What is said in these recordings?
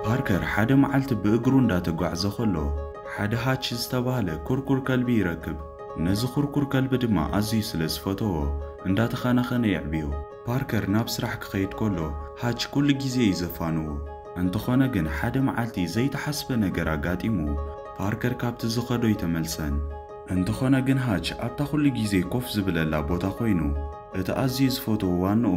ፓርከር ሓደ መዓልቲ ብእግሩ እንዳተጓዕዘ ኸሎ፣ ሓደ ሃች ዝተባህለ ኩርኩር ከልቢ ይረክብ። ነዚ ኩርኩር ከልቢ ድማ ኣዝዩ ስለ ዝፈተዎ፣ እንዳተኻናኸነ የዕብዮ። ፓርከር ናብ ስራሕ ክኸይድ ከሎ፣ ሃች ኩሉ ግዜ እዩ ዘፋንዎ። እንተኾነ ግን ሓደ መዓልቲ ዘይተሓስበ ነገር ኣጋጢሙ፣ ፓርከር ካብቲ ዝኸዶ ኣይተመልሰን። እንተኾነ ግን ሃች ኣብታ ኩሉ ግዜ ኮፍ ዝብለላ ቦታ ኮይኑ፣ እቲ ኣዝዩ ዝፈትዎ ዋንኡ፣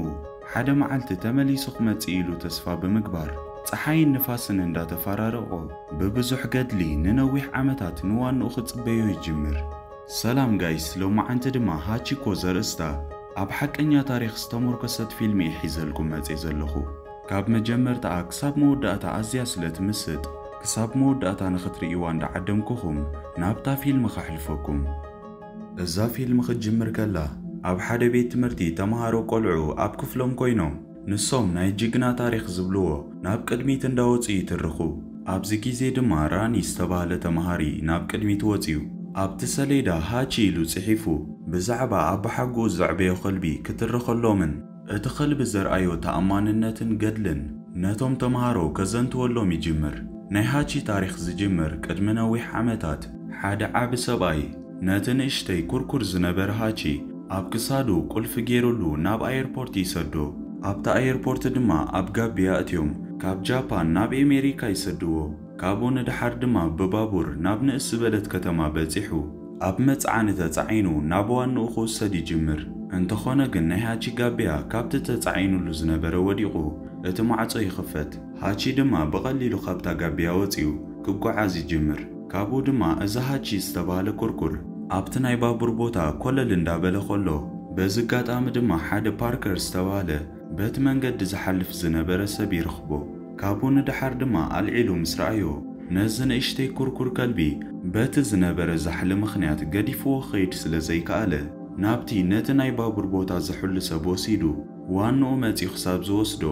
ሓደ መዓልቲ ተመሊሱ ክመጽእ ኢሉ ተስፋ ብምግባር፣ ጸሓይን ንፋስን እንዳተፋራረቖ፣ ብብዙሕ ገድሊ ንነዊሕ ዓመታት ንዋንኡ ክጽበዮ ይጅምር። ሰላም ጋይስ ሎማዓንቲ ድማ ሃቺኮ ዘርእስታ ኣብ ሓቀኛ ታሪኽ ዝተሞርከሰት ፊልሚ እየ ሒዘልኩም መጼ ዘለኹ ካብ መጀመርታኣ ክሳብ መወዳእታ ኣዝያ ስለ ትምስጥ ክሳብ መወዳእታ ንኽትርእይዋ እንዳዓደምኩኹም ናብታ ፊልሚ ከሕልፈኩም እዛ ፊልም ክትጅምር ከላ ኣብ ሓደ ቤት ትምህርቲ ተማሃሮ ቆልዑ ኣብ ክፍሎም ኮይኖም ንሶም ናይ ጅግና ታሪኽ ዝብልዎ ናብ ቅድሚት እንዳወጹ ይትርኹ ኣብዚ ግዜ ድማ ራኒ ዝተባህለ ተማሃሪ ናብ ቅድሚት ወጽዩ ኣብቲ ሰሌዳ ሃቺ ኢሉ ጽሒፉ ብዛዕባ ኣባሓጉኡ ዘዕበዮ ከልቢ ክትርኸሎምን እቲ ኸልቢ ዘርኣዮ ተኣማንነትን ገድልን ነቶም ተምሃሮ ከዘንትወሎም ይጅምር። ናይ ሃቺ ታሪኽ ዝጅምር ቅድሚ ነዊሕ ዓመታት ሓደ ዓቢ ሰብኣይ ነቲ ንእሽተይ ኩርኩር ዝነበረ ሃቺ ኣብ ክሳዱ ቁልፊ ጌሩሉ ናብ ኣየርፖርት ይሰዶ። ኣብቲ ኣየርፖርት ድማ ኣብ ጋቢ የእትዮም ካብ ጃፓን ናብ ኤሜሪካ ይሰድዎ። ካብኡ ንደሓር ድማ ብባቡር ናብ ንእስ ዝበለት ከተማ በጺሑ። ኣብ መጽዓኒ ተጻዒኑ ናብ ዋንኡ ክውሰድ ይጅምር። እንተኾነ ግን ናይ ሃቺ ጋቢያ ካብቲ ተጻዒኑሉ ዝነበረ ወዲቑ እቲ ማዕጾ ይኽፈት። ሃቺ ድማ ብቐሊሉ ካብታ ጋቢያ ወጺኡ ክጓዓዝ ይጅምር። ካብኡ ድማ እዚ ሃቺ ዝተባህለ ኩርኩር ኣብቲ ናይ ባቡር ቦታ ኮለል እንዳበለ ከሎ በዚ ኣጋጣሚ ድማ ሓደ ፓርከር ዝተባህለ በቲ መንገዲ ዝሓልፍ ዝነበረ ሰብ ይረኽቦ። ካብኡ ንደሓር ድማ ኣልዒሉ ምስ ረኣዮ፣ ነዚ ንእሽተይ ኩርኩር ከልቢ በቲ ዝነበረ ዛሕሊ ምኽንያት ገዲፍዎ ክኸይድ ስለ ዘይከኣለ፣ ናብቲ ነቲ ናይ ባቡር ቦታ ዝሕሉ ሰብ ወሲዱ፣ ዋንኡ መጺኡ ክሳብ ዝወስዶ፣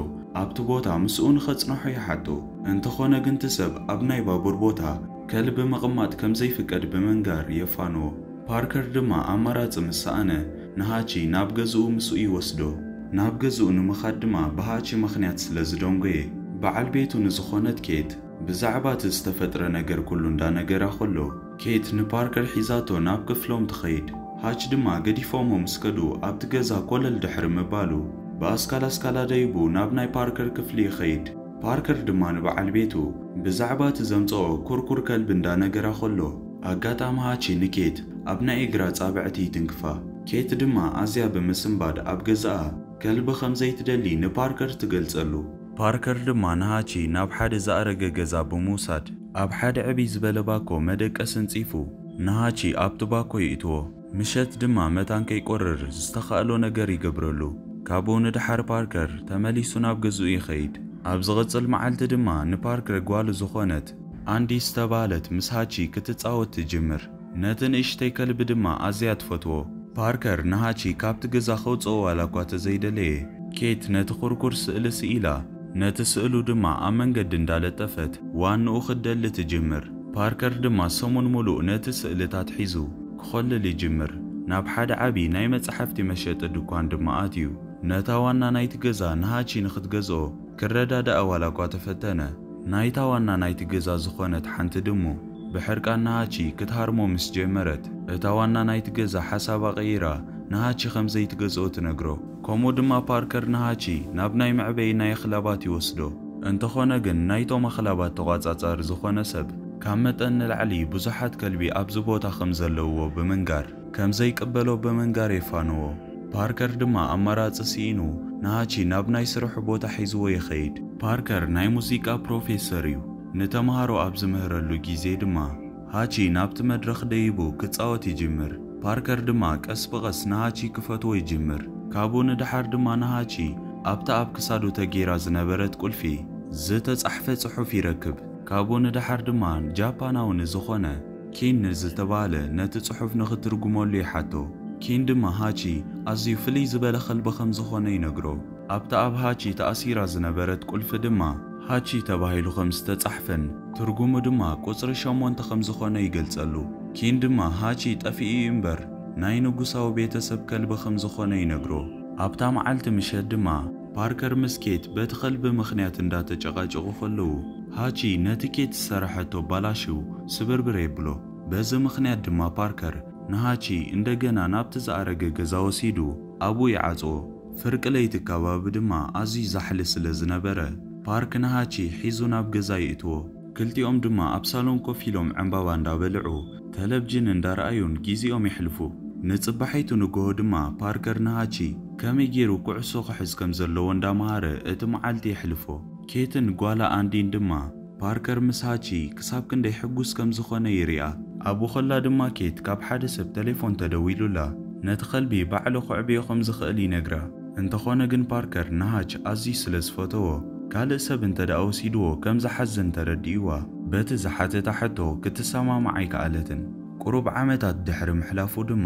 ኣብቲ ቦታ ምስኡ ንኸጽንሖ ይሓቶ። እንተኾነ ግን እቲ ሰብ ኣብ ናይ ባቡር ቦታ ከልቢ ምቕማጥ ከም ዘይፍቀድ ብምንጋር የፋንዎ። ፓርከር ድማ ኣማራጺ ምስ ሰኣነ፣ ንሃቺ ናብ ገዝኡ ምስኡ ይወስዶ። ናብ ገዝኡ ንምኻድ ድማ ብሃቺ ምኽንያት ስለ ዝደንጎየ፣ በዓል ቤቱ ንዝኾነት ኬት ብዛዕባ እቲ ዝተፈጥረ ነገር ኩሉ እንዳነገራ ከሎ፣ ኬት ንፓርከር ሒዛቶ ናብ ክፍሎም ትኸይድ። ሃች ድማ ገዲፎሞ ምስ ከዱ ኣብቲ ገዛ ኮለል ድሕሪ ምባሉ፣ ብኣስካል ኣስካላ ደይቡ ናብ ናይ ፓርከር ክፍሊ ይኸይድ። ፓርከር ድማ ንበዓል ቤቱ ብዛዕባ እቲ ዘምጸኦ ኩርኩር ከልቢ እንዳነገራ ከሎ፣ ኣጋጣምኣ ቺ ንኬት ኣብ ናይ እግራ ኣጻብዕቲ ይትንክፋ። ኬት ድማ ኣዝያ ብምስንባድ ኣብ ገዛኣ ከልቢ ከም ዘይትደሊ ንፓርከር ትገልጸሉ። ፓርከር ድማ ንሃቺ ናብ ሓደ ዝኣረገ ገዛ ብምውሳድ ኣብ ሓደ ዕብይ ዝበለ ባኮ መደቀሲ ኣንጺፉ ንሃቺ ኣብቲ ባኮ ይእትዎ። ምሸት ድማ መታን ከይቈርር ዝተኻእሎ ነገር ይገብረሉ። ካብኡ ንደሓር ፓርከር ተመሊሱ ናብ ገዝኡ ይኸይድ። ኣብ ዝቕጽል መዓልቲ ድማ ንፓርከር ጓሉ ዝዀነት ኣንዲ ዝተባህለት ምስ ሃቺ ክትጻወት ትጅምር። ነቲ ንእሽተይ ከልቢ ድማ ኣዝያ ትፈትዎ። ፓርከር ንሃቺ ካብቲ ገዛ ከውጽኦ ዋላ'ኳ ተዘይደለየ፣ ኬት ነቲ ኵርኩር ስእሊ ስኢላ። ነቲ ስእሉ ድማ ኣብ መንገዲ እንዳለጠፈት ዋንኡ ክትደሊ ትጅምር። ፓርከር ድማ ሰሙን ሙሉእ ነቲ ስእልታት ሒዙ ክኾልል ይጅምር። ናብ ሓደ ዓቢ ናይ መጻሕፍቲ መሸጢ ድኳን ድማ ኣትዩ ነታ ዋና ናይቲ ገዛ ንሃቺ ንኽትገዝኦ ክረዳድኣ ዋላኳ ተፈተነ። ናይታ ዋና ናይቲ ገዛ ዝኾነት ሓንቲ ድሙ ብሕርቃን ንሃቺ ክትሃርሞ ምስ ጀመረት እታ ዋና ናይቲ ገዛ ሓሳባ ቀይራ ንሃቺ ከምዘይትገዝኦ ትነግሮ። ከምኡ ድማ ፓርከር ንሃቺ ናብ ናይ መዕበዪ ናይ ኣኽላባት ይወስዶ። እንተኾነ ግን ናይቶም ኣኽላባት ተቋጻጻሪ ዝኾነ ሰብ ካብ መጠን ንላዕሊ ብዙሓት ከልቢ ኣብዚ ቦታ ከም ዘለውዎ ብምንጋር ከም ዘይቅበሎ ብምንጋር የፋንዎ። ፓርከር ድማ ኣማራጺ ስኢኑ ንሃቺ ናብ ናይ ስርሑ ቦታ ሒዝዎ ይኸይድ። ፓርከር ናይ ሙዚቃ ፕሮፌሰር እዩ። ንተማሃሮ ኣብ ዝምህረሉ ግዜ ድማ፣ ሃቺ ናብቲ መድረኽ ደይቡ ክጻወት ይጅምር፣ ፓርከር ድማ ቀስ ብቐስ ንሃቺ ክፈትዎ ይጅምር፣ ካብኡ ንደሓር ድማ ንሃቺ ኣብታ ኣብ ክሳዱ ተገይራ ዝነበረት ቁልፊ ዝተጻሕፈ ጽሑፍ ይረክብ፣ ካብኡ ንደሓር ድማ ጃፓናዊ ንዝኾነ ኪን ንዝተባህለ ነቲ ጽሑፍ ንኽትርጉመሉ ይሓቶ፣ ኪን ድማ ሃቺ ኣዝዩ ፍልይ ዝበለ ከልቢ ከምዝኾነ ይነግሮ፣ ኣብታ ኣብ ሃቺ ተኣሲራ ዝነበረት ቁልፊ ድማ። ሃቺ ተባሂሉ ከም ዝተጻሕፈን ትርጉሙ ድማ ቁጽሪ ሸሞንተ ከም ዝኾነ ይገልጸሉ። ኪን ድማ ሃቺ ጠፊኡ እዩ እምበር ናይ ንጉሳዊ ቤተሰብ ከልቢ ከም ዝኾነ ይነግሮ። ኣብታ መዓልቲ ምሸት ድማ ፓርከር ምስ ኬት በቲ ከልቢ ምኽንያት እንዳ ተጨቃጨቁ ከለዉ ሃቺ ነቲ ኬት ዝሰረሐቶ ባላሽው ስብርብር የብሎ። በዚ ምኽንያት ድማ ፓርከር ንሃቺ እንደገና ናብቲ ዝኣረገ ገዛ ወሲዱ ኣብኡ ይዓጽዎ። ፍርቂ ለይቲ ከባቢ ድማ ኣዝዩ ዛሕሊ ስለ ዝነበረ፣ ፓርክ ንሃቺ ሒዙ ናብ ገዛ የእትዎ። ክልቲኦም ድማ ኣብ ሳሎን ኮፍ ኢሎም ዕምባባ እንዳበልዑ፣ ተለቭጅን እንዳርኣዩን ጊዚኦም የሕልፉ። ንጽባሒቱ ንግሆ ድማ ፓርከር ንሃቺ ከመይ ጌሩ ኩዕሶ ክሕዝ ከም ዘለዎ እንዳመሃረ እቲ መዓልቲ የሕልፎ። ኬትን ጓላ ኣንዲን ድማ፣ ፓርከር ምስ ሃቺ ክሳብ ክንደይ ሕጉስ ከም ዝዀነ ይርኣ። ኣብኡ ኸላ ድማ ኬት ካብ ሓደ ሰብ ተሌፎን ተደዊሉላ ነቲ ኸልቢ ባዕሉ ኼዕብዮ ኸም ዚኽእል ይነግራ። እንተዀነ ግን ፓርከር ንሃች ኣዝዩ ስለ ዝፈተዎ፣ ካልእ ሰብ እንተ ደኣ ወሲድዎ ከም ዚሓዝን ተረዲእዋ በቲ ዝሓተታ ሕቶ ክትሰማማዕ ኣይከኣለትን። ቍሩብ ዓመታት ድሕሪ ምሕላፉ ድማ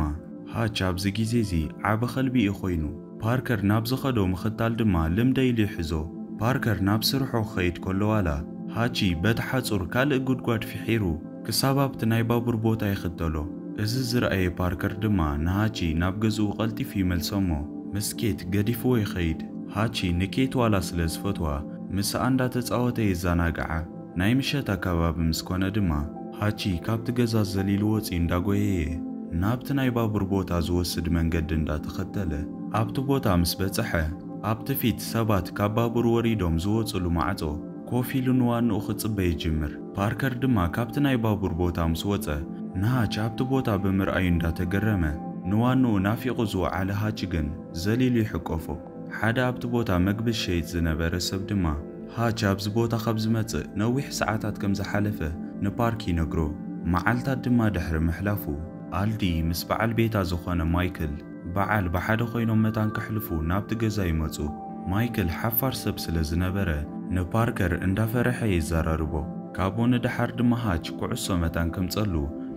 ሃች ኣብዚ ግዜ እዚ ዓቢ ኸልቢ እዩ ዀይኑ። ፓርከር ናብ ዝኸዶ ምኽታል ድማ ልምደይ ኢሉ ይሕዞ። ፓርከር ናብ ስርሑ ክኸይድ ከሎ ዋላ ሃቺ በቲ ሓጹር ካልእ ጉድጓድ ፍሒሩ ክሳብ ኣብቲ ናይ ባቡር ቦታ ይኽተሎ። እዚ ዝረኣየ ፓርከር ድማ ንሃቺ ናብ ገዝኡ ቀልጢፉ ይመልሶ'ሞ ምስ ኬት ገዲፍዎ ይኸይድ። ሃቺ ንኬት ዋላ ስለ ዝፈትዋ ምስኣ እንዳተጻወተ የዛናግዓ። ናይ ምሸት ኣከባቢ ምስ ኮነ ድማ ሃቺ ካብቲ ገዛ ዘሊሉ ወጺኡ እንዳጎየየ ናብቲ ናይ ባቡር ቦታ ዝወስድ መንገዲ እንዳተኸተለ ኣብቲ ቦታ ምስ በጸሐ ኣብቲ ፊት ሰባት ካብ ባቡር ወሪዶም ዝወጽሉ ማዕጾ ኮፍ ኢሉ ንዋንኡ ክጽበ ይጅምር። ፓርከር ድማ ካብቲ ናይ ባቡር ቦታ ምስ ወጸ ንሃች ኣብቲ ቦታ ብምርኣዩ እንዳተገረመ ንዋንኡ ናፊቑ ዝወዓለ ሃች ግን ዘሊሉ ይሕቆፎ። ሓደ ኣብቲ ቦታ መግቢ ዝሸይጥ ዝነበረ ሰብ ድማ፣ ሃች ኣብዚ ቦታ ካብ ዝመጽእ ነዊሕ ሰዓታት ከም ዝሓለፈ ንፓርክ ይነግሮ። መዓልታት ድማ ድሕሪ ምሕላፉ፣ ኣልዲ ምስ በዓል ቤታ ዝዀነ ማይክል በዓል ብሓደ ዀይኖም መታን ከሕልፉ ናብቲ ገዛ ይመጹ። ማይክል ሓፋር ሰብ ስለ ዝነበረ፣ ንፓርከር እንዳፈርሐ የዘራርቦ። ካብኡ ንደሓር ድማ ሃች ኩዕሶ መታን ከምጸሉ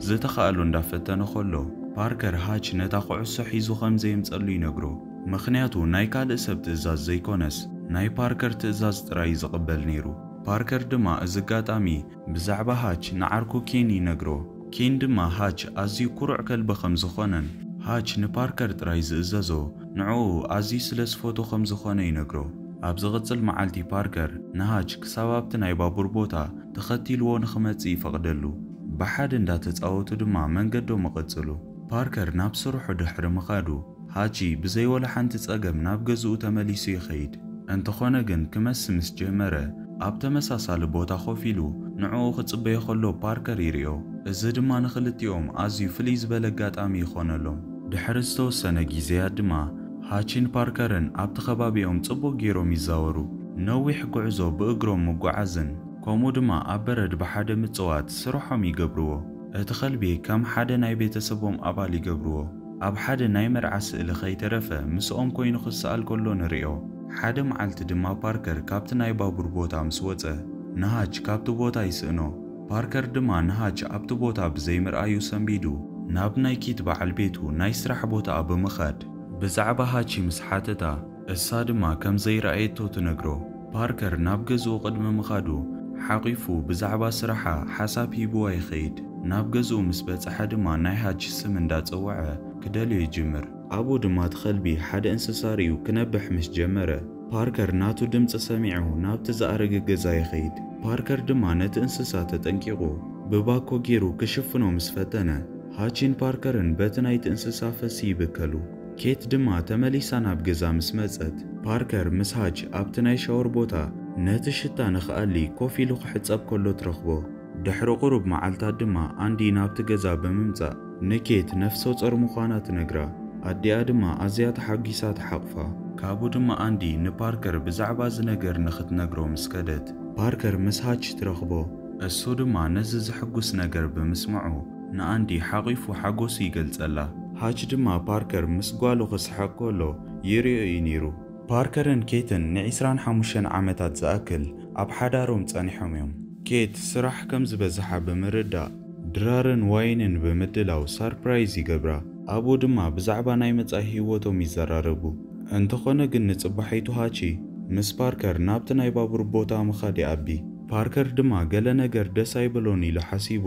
ዝተኻእሎ እንዳፈተነ ኸሎ፣ ፓርከር ሃች ነታ ኩዕሶ ሒዙ ከም ዘየምጸሉ ይነግሮ። ምኽንያቱ ናይ ካልእ ሰብ ትእዛዝ ዘይኮነስ ናይ ፓርከር ትእዛዝ ጥራይ እዩ ዝቕበል ነይሩ። ፓርከር ድማ እዚ ኣጋጣሚ ብዛዕባ ሃች ንዓርኩ ኬን ይነግሮ። ኬን ድማ ሃች ኣዝዩ ኩሩዕ ከልቢ ከም ዝኾነን ሃች ንፓርከር ጥራይ ዝእዘዞ ንዕኡ ኣዝዩ ስለ ዝፈትዎ ከም ዝኾነ ይነግሮ። ኣብ ዝቕጽል መዓልቲ ፓርከር ንሃች ክሳብ ኣብቲ ናይ ባቡር ቦታ ተኸቲልዎ ንኽመጽእ ይፈቕደሉ። ብሓደ እንዳተጻወቱ ድማ መንገዶም እቕጽሉ። ፓርከር ናብ ስርሑ ድሕሪ ምኻዱ ሃቺ ብዘይ ወላ ሓንቲ ጸገም ናብ ገዝኡ ተመሊሱ ይኸይድ። እንተኾነ ግን ክመሲ ምስ ጀመረ፣ ኣብ ተመሳሳሊ ቦታ ኮፍ ኢሉ ንዕኡ ክጽበዮ ከሎ ፓርከር ይሪኦ። እዚ ድማ ንኽልቲኦም ኣዝዩ ፍልይ ዝበለ ኣጋጣሚ ይኾነሎም። ድሕሪ ዝተወሰነ ጊዜያት ድማ ሃቺን ፓርከርን ኣብቲ ከባቢኦም ጽቡቕ ገይሮም ይዛወሩ። ነዊሕ ጉዕዞ ብእግሮም ምጉዓዝን ከምኡ ድማ ኣብ በረድ ብሓደ ምጽዋት ስርሖም ይገብርዎ። እቲ ከልቢ ከም ሓደ ናይ ቤተሰቦም ኣባል ይገብርዎ። ኣብ ሓደ ናይ መርዓ ስእሊ ከይተረፈ ምስኦም ኰይኑ ክስኣል ከሎ ንርእዮ። ሓደ መዓልቲ ድማ ፓርከር ካብቲ ናይ ባቡር ቦታ ምስ ወጸ፣ ንሃች ካብቲ ቦታ ይስእኖ። ፓርከር ድማ ንሃች ኣብቲ ቦታ ብዘይምርኣዩ ሰንቢዱ፣ ናብ ናይ ኪት በዓል ቤቱ ናይ ስራሕ ቦታኣ ብምኻድ ብዛዕባ ሃች ምስ ሓተታ፣ እሳ ድማ ከም ዘይረኣየቶ ትነግሮ። ፓርከር ናብ ገዝኡ ቅድሚ ምኻዱ፣ ሓቚፉ ብዛዕባ ስራሓ ሓሳብ ሂቡዋ ይኸይድ። ናብ ገዝኡ ምስ በጽሐ ድማ ናይ ሃች ስም እንዳ ጸውዐ ክደልዮ ይጅምር። ኣብኡ ድማ እቲ ከልቢ ሓደ እንስሳ ርእዩ ክነብሕ ምስ ጀመረ፣ ፓርከር ናቱ ድምጺ ሰሚዑ ናብቲ ዝኣረገ ገዛ ይኸይድ። ፓርከር ድማ ነቲ እንስሳ ተጠንቂቑ ብባኮ ጌሩ ክሽፍኖ ምስ ፈተነ፣ ሃችን ፓርከርን በቲ ናይቲ እንስሳ ፈሲ ይብከሉ። ኬት ድማ ተመሊሳ ናብ ገዛ ምስ መጸት፣ ፓርከር ምስ ሃች ኣብቲ ናይ ሻወር ቦታ ነቲ ሽታ ንኽኣሊ ኮፍ ኢሉ ክሕጸብ ከሎ ትረኽቦ። ድሕሪ ቁሩብ መዓልታት ድማ ኣንዲ ናብቲ ገዛ ብምምጻእ ንኬት ነፍሰጾር ምዃና ትነግራ። ኣዲኣ ድማ ኣዝያ ተሓጒሳ ትሓቑፋ። ካብኡ ድማ ኣንዲ ንፓርከር ብዛዕባ እዚ ነገር ንኽትነግሮ ምስ ከደት፣ ፓርከር ምስ ሃች ትረኽቦ። እሱ ድማ ነዚ ዘሕጉስ ነገር ብምስምዑ ንኣንዲ ሓቚፉ ሓጐሱ ይገልጸላ። ሃች ድማ ፓርከር ምስ ጓሉ ክስሕቕ ከሎ ይርእዮ እዩ ነይሩ። ፓርከርን ኬትን ንዒስራን ሓሙሽተን ዓመታት ዝኣክል ኣብ ሓዳሮም ጸኒሖም እዮም። ኬት ስራሕ ከም ዝበዝሓ ብምርዳእ፣ ድራርን ዋይንን ብምድላው ሳርፕራይዝ ይገብራ። ኣብኡ ድማ ብዛዕባ ናይ መጻኢ ህይወቶም ይዘራረቡ። እንተዀነ ግን ንጽባሒቱ ሃቺ ምስ ፓርከር ናብቲ ናይ ባቡር ቦታ ምኻድ ይኣቢ። ፓርከር ድማ ገለ ነገር ደስ ኣይበሎን ኢሉ ሓሲቡ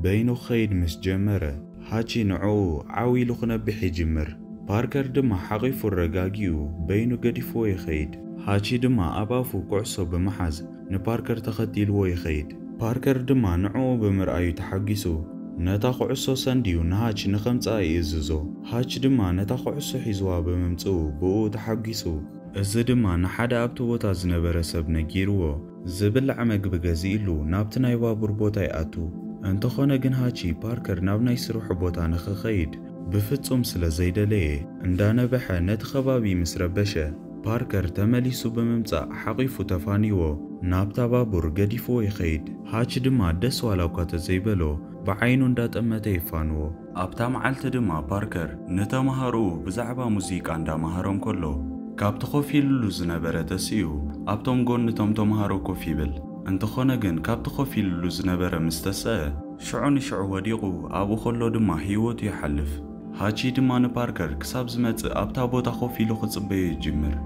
በይኑ ክኸይድ ምስ ጀመረ፣ ሃቺ ንዕኡ ዓው ኢሉ ክነብሕ ይጅምር። ፓርከር ድማ ሓቚፉ ኣረጋጊኡ በይኑ ገዲፍዎ ይኸይድ። ሃቺ ድማ ኣብ ኣፉ ኩዕሶ ብምሓዝ ንፓርከር ተኸቲልዎ ይኸይድ። ፓርከር ድማ ንዕኡ ብምርኣዩ ተሓጒሱ ነታ ኩዕሶ ሰንድዩ ንሃች ንኸምጽኣ ይእዝዞ። ሃች ድማ ነታ ኩዕሶ ሒዝዋ ብምምጽኡ ብእኡ ተሓጒሱ። እዚ ድማ ንሓደ ኣብቲ ቦታ ዝነበረ ሰብ ነጊርዎ። ዝብላዕ መግቢ ገዚእሉ ናብቲ ናይ ባቡር ቦታ ይኣቱ። እንተኾነ ግን ሃቺ፣ ፓርከር ናብ ናይ ስርሑ ቦታ ንኽኸይድ ብፍጹም ስለ ዘይደለየ፣ እንዳነበሐ ነቲ ከባቢ ምስ ረበሸ፣ ፓርከር ተመሊሱ ብምምጻእ ሓቚፉ ተፋንይዎ ናብታ ባቡር ገዲፍዎ ይኸይድ። ሃቺ ድማ ደስ ዋላ'ኳ ተዘይበሎ ብዓይኑ እንዳጠመተ የፋንዎ። ኣብታ መዓልቲ ድማ ፓርከር ንተማሃሮኡ ብዛዕባ ሙዚቃ እንዳመሃሮም ከሎ፣ ካብቲ ኮፍ ኢሉሉ ዝነበረ ተሲኡ ኣብቶም ጎኒ እቶም ተማሃሮ ኮፍ ይብል። እንተኾነ ግን ካብቲ ኮፍ ኢሉሉ ዝነበረ ምስ ተሰኣ፣ ሽዑ ንሽዑ ወዲቑ ኣብኡ ከሎ ድማ ህይወቱ ይሓልፍ። ሃቺ ድማ ንፓርከር ክሳብ ዝመጽእ ኣብታ ቦታ ኮፍ ኢሉ ክጽበዮ ይጅምር።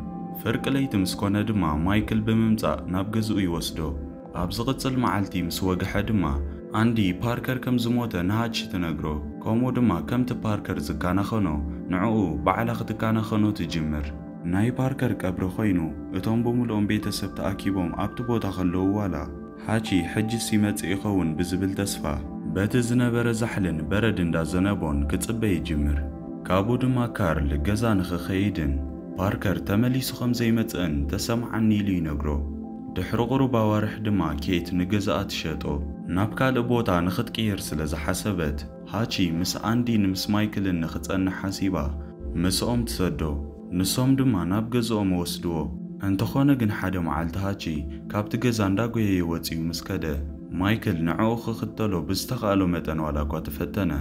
ፍርቂ ለይቲ ምስ ኮነ ድማ ማይክል ብምምጻእ ናብ ገዝኡ ይወስዶ። ኣብ ዝቕጽል መዓልቲ ምስ ወግሐ ድማ፣ ኣንዲ፣ ፓርከር ከም ዝሞተ ንሃች ትነግሮ፣ ከምኡ ድማ ከምቲ ፓርከር ዝከናኸኖ ንዕኡ ባዕላ ክትከናኸኖ ትጅምር። ናይ ፓርከር ቀብሪ ኮይኑ፣ እቶም ብምሉኦም ቤተሰብ ተኣኪቦም ኣብቲ ቦታ ከለዉ ዋላ ሃች ሕጅስ ይመጽእ ይኸውን ብዝብል ተስፋ፣ በቲ ዝነበረ ዛሕልን በረድ እንዳ ዘነቦን ክጽበ ይጅምር፣ ካብኡ ድማ ካርል ገዛ ንኽኸይድን ፓርከር ተመሊሱ ከም ዘይመጽእን ተሰምዓኒ ኢሉ ይነግሮ። ድሕሪ ቁሩብ ኣዋርሕ ድማ ኬት ንገዛኣ ትሸጦ። ናብ ካልእ ቦታ ንኽትቅይር ስለ ዝሓሰበት፣ ሃቺ ምስ ኣንዲ ንምስ ማይክልን ንኽጸንሕ ሓሲባ ምስኦም ትሰዶ። ንሶም ድማ ናብ ገዝኦም ወስድዎ። እንተኾነ ግን ሓደ መዓልቲ ሃቺ ካብቲ ገዛ እንዳጎየየ ወጺኡ ምስ ከደ፣ ማይክል ንዕኡ ክኽተሎ ብዝተኻእሎ መጠን ዋላኳ ተፈተነ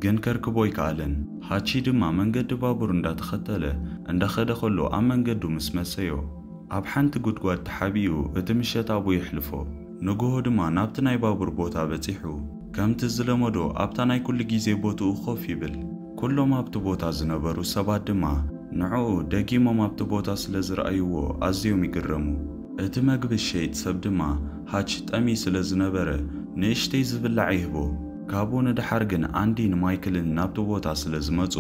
ግን ከርክቦ ኣይከኣለን። ሃቺ ድማ መንገዲ ባቡር እንዳተኸተለ እንዳኸደ ከሎ ኣብ መንገዱ ምስ መሰዮ፣ ኣብ ሓንቲ ጉድጓድ ተሓቢኡ እቲ ምሸት ኣብኡ የሕልፎ። ንግሆ ድማ ናብቲ ናይ ባቡር ቦታ በጺሑ ከምቲ ዝለመዶ ኣብታ ናይ ኩሉ ግዜ ቦትኡ ኮፍ ይብል። ኩሎም ኣብቲ ቦታ ዝነበሩ ሰባት ድማ ንዕኡ ደጊሞም ኣብቲ ቦታ ስለ ዝረኣይዎ ኣዝዮም ይግረሙ። እቲ መግቢ ዝሸይጥ ሰብ ድማ ሃች ጠምዪ ስለ ዝነበረ ንእሽተይ ዝብላዕ ይህቦ። ካብኡ ንደሓር ግን ኣንዲን ማይክልን ናብቲ ቦታ ስለ ዝመጹ፣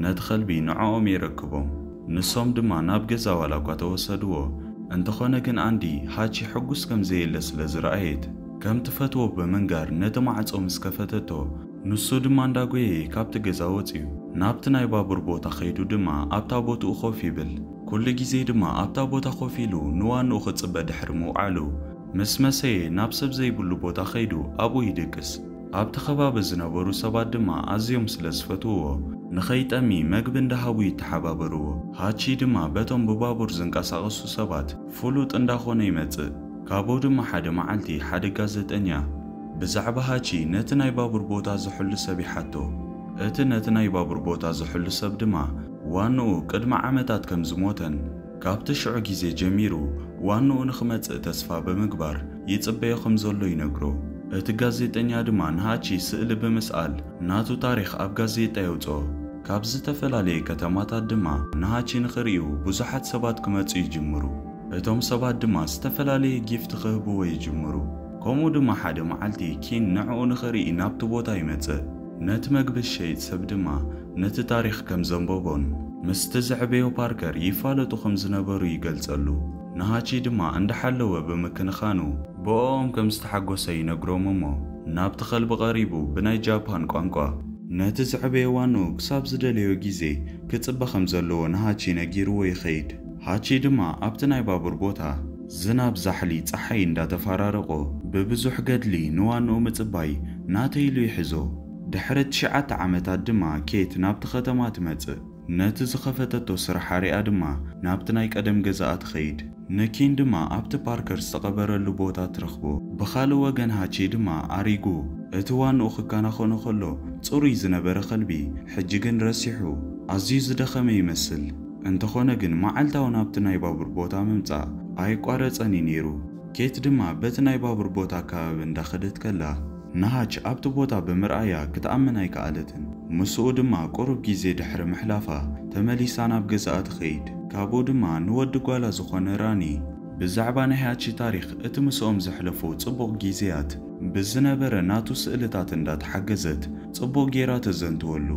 ነቲ ከልቢ ንዖኦም የረክቦም ንሶም ድማ ናብ ገዛ ዋላ እኳ ተወሰድዎ እንተኾነ ግን ኣንዲ ሃቺ ሕጉስ ከም ዘየለ ስለ ዝረኣየት ከም ትፈትዎ ብምንጋር ነቲ ማዕጾ ምስ ከፈተቶ ንሱ ድማ እንዳ ጎየየ ካብቲ ገዛ ወጽዩ ናብቲ ናይ ባቡር ቦታ ከይዱ ድማ ኣብታ ቦትኡ ኮፍ ይብል ኩሉ ግዜ ድማ ኣብታ ቦታ ኮፍ ኢሉ ንዋንኡ ክጽበ ድሕሪ ምውዓሉ ምስ መሰየ ናብ ሰብ ዘይብሉ ቦታ ከይዱ ኣብኡ ይድቅስ። ኣብቲ ከባቢ ዝነበሩ ሰባት ድማ ኣዝዮም ስለ ዝፈትውዎ፣ ንኸይጠሚ መግቢ እንዳሃቡ ይተሓባበርዎ። ሃቺ ድማ በቶም ብባቡር ዝንቀሳቐሱ ሰባት ፍሉጥ እንዳኾነ ይመጽእ። ካብኡ ድማ ሓደ መዓልቲ ሓደ ጋዘጠኛ ብዛዕባ ሃቺ ነቲ ናይ ባቡር ቦታ ዝሕሉ ሰብ ይሓቶ። እቲ ነቲ ናይ ባቡር ቦታ ዝሕሉ ሰብ ድማ ዋንኡ ቅድሚ ዓመታት ከም ዝሞተን፣ ካብቲ ሽዑ ግዜ ጀሚሩ ዋንኡ ንኽመጽእ ተስፋ ብምግባር ይጽበዮ ከም ዘሎ ይነግሮ። እቲ ጋዜጠኛ ድማ ንሃቺ ስእሊ ብምስኣል ናቱ ታሪኽ ኣብ ጋዜጣ የውጽኦ። ካብ ዝተፈላለየ ከተማታት ድማ ንሃቺ ንኽርእዩ ብዙሓት ሰባት ክመጹ ይጅምሩ። እቶም ሰባት ድማ ዝተፈላለየ ጊፍት ክህብዎ ይጅምሩ። ከምኡ ድማ ሓደ መዓልቲ ኪን ንዕኡ ንኽርኢ ናብቲ ቦታ ይመጽእ። ነቲ መግቢ ዝሸይጥ ሰብ ድማ ነቲ ታሪኽ ከም ዘንበቦን ምስቲ ዘዕበዮ ፓርከር ይፋለጡ ከም ዝነበሩ ይገልጸሉ፣ ንሃቺ ድማ እንዳሓለወ ብምክንኻኑ ብእኦም ከም ዝተሓጎሰ ይነግሮም እሞ ናብቲ ከልቢ ቀሪቡ ብናይ ጃፓን ቋንቋ፣ ነቲ ዘዕበዮ ዋንኡ ክሳብ ዝደለዮ ግዜ ክጽበ ከም ዘለዎ ንሃቺ ነጊርዎ ይኸይድ፣ ሃቺ ድማ ኣብቲ ናይ ባቡር ቦታ ዝናብ ዛሕሊ ጸሓይ እንዳተፋራረቖ ብብዙሕ ገድሊ ንዋንኡ ምጽባይ ናተይ ኢሉ ይሕዞ፣ ድሕሪ ትሽዓተ ዓመታት ድማ ኬት ናብቲ ኸተማ ትመጽእ። ነቲ ዝኸፈተቶ ስራሓ ሪኣ ድማ ናብቲ ናይ ቀደም ገዛኣ ትኸይድ። ንኪን ድማ ኣብቲ ፓርከር ዝተቐበረሉ ቦታ ትረኽቦ። ብኻልእ ወገን ሃቺ ድማ ኣሪጉ። እቲ ዋንኡ ክከናኸኖ ከሎ ጽሩይ ዝነበረ ኸልቢ ሕጂ ግን ረሲሑ። ኣዝዩ ዝደኸመ ይመስል። እንተኾነ ግን መዓልታዊ ናብቲ ናይ ባቡር ቦታ ምምጻእ ኣየቋረጸን እዩ ነይሩ። ኬት ድማ በቲ ናይ ባቡር ቦታ ኣከባቢ እንዳኸደት ከላ። ነሃች ኣብቲ ቦታ ብምርኣያ ክትኣምን ኣይከኣለትን። ምስኡ ድማ ቁሩብ ግዜ ድሕሪ ምሕላፋ ተመሊሳ ናብ ገዛኣ ትኸይድ። ካብኡ ድማ ንወዲ ጓላ ዝኾነ ራኒ ብዛዕባ ናይ ሃቺ ታሪኽ፣ እቲ ምስኦም ዘሕለፎ ጽቡቕ ግዜያት፣ ብዝነበረ ናቱ ስእልታት እንዳ ተሓገዘት ጽቡቕ ጌራ ተዘንትወሉ።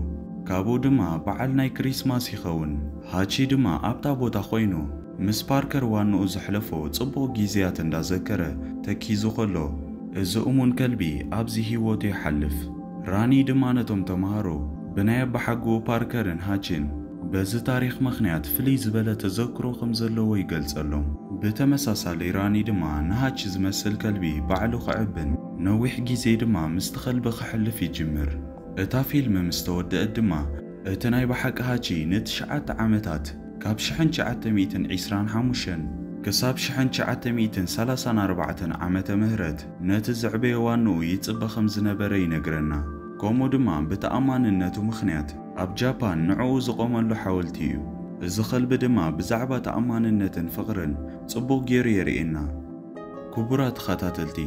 ካብኡ ድማ በዓል ናይ ክሪስማስ ይኸውን። ሃቺ ድማ ኣብታ ቦታ ኮይኑ። ምስ ፓርከር ዋንኡ ዘሕለፎ ጽቡቕ ጊዝያት እንዳ ዘከረ ተኪዙ ከሎ እዚ እሙን ከልቢ ኣብዚ ሂወቱ ይሓልፍ። ራኒ ድማ ነቶም ተማሃሮ ብናይ ኣባሓጉኡ ፓርከርን ሃቺን በዚ ታሪኽ መኽንያት ፍልይ ዝበለ ተዘክሮ ከም ዘለዎ ይገልጸሎም። ብተመሳሳሊ ራኒ ድማ ንሃቺ ዝመስል ከልቢ ባዕሉ ክዕብን ነዊሕ ጊዜ ድማ ምስቲ ከልቢ ከሕልፍ ይጅምር። እታ ፊልም ምስ ተወደእት ድማ እቲ ናይ ብሓቂ ሃቺ ንትሽዓተ ዓመታት፣ ካብ ሽሕን ትሽዓተ ሚእትን ዒስራን ሓሙሽተን ክሳብ ሽሕን ትሽዓተ ሚእትን ሰላሳን ኣርባዕተን ዓመተ ምህረት፣ ነቲ ዘዕበዮ ዋንኡ ይጽበ ከም ዝነበረ ይነግረና። ከምኡ ድማ ብተኣማንነቱ ምኽንያት፣ ኣብ ጃፓን ንዕኡ ዝቖመሉ ሓወልቲ እዩ። እዚ ከልቢ ድማ ብዛዕባ ተኣማንነትን ፍቕርን ጽቡቕ ገይሩ የርእየና። ክቡራት ተኸታተልቲ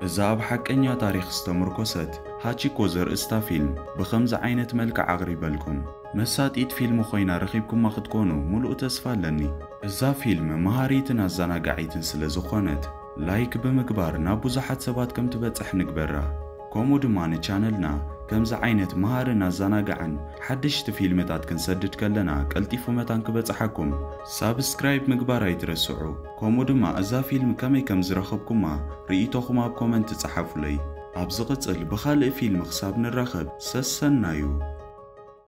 እዛ ኣብ ሓቀኛ ታሪኽ ዝተምርኮሰት ሃቺኮ ዘርእስታ ፊልም ብኸምዚ ዓይነት መልክዕ ኣቕሪበልኩም። መሳጢት ፊልም ኮይና ረኺብኩማ ክትኮኑ ሙሉእ ተስፋ ኣለኒ። እዛ ፊልም መሃሪትን ኣዛናጋዒትን ስለ ዝኾነት ላይክ ብምግባር ናብ ብዙሓት ሰባት ከም ትበጽሕ ንግበራ። ከምኡ ድማ ንቻነልና ከምዚ ዓይነት መሃርን ኣዛናጋዕን ሓደሽቲ ፊልምታት ክንሰድድ ከለና ቀልጢፉ መታን ክበጽሓኩም ሳብስክራይብ ምግባር ኣይትረስዑ። ከምኡ ድማ እዛ ፊልም ከመይ ከም ዝረኸብኩማ ርኢቶኹም ኣብ ኮመንት ጸሓፉለይ። ኣብ ዝቕጽል ብኻልእ ፊልም ክሳብ ንራኸብ ሰሰናዩ።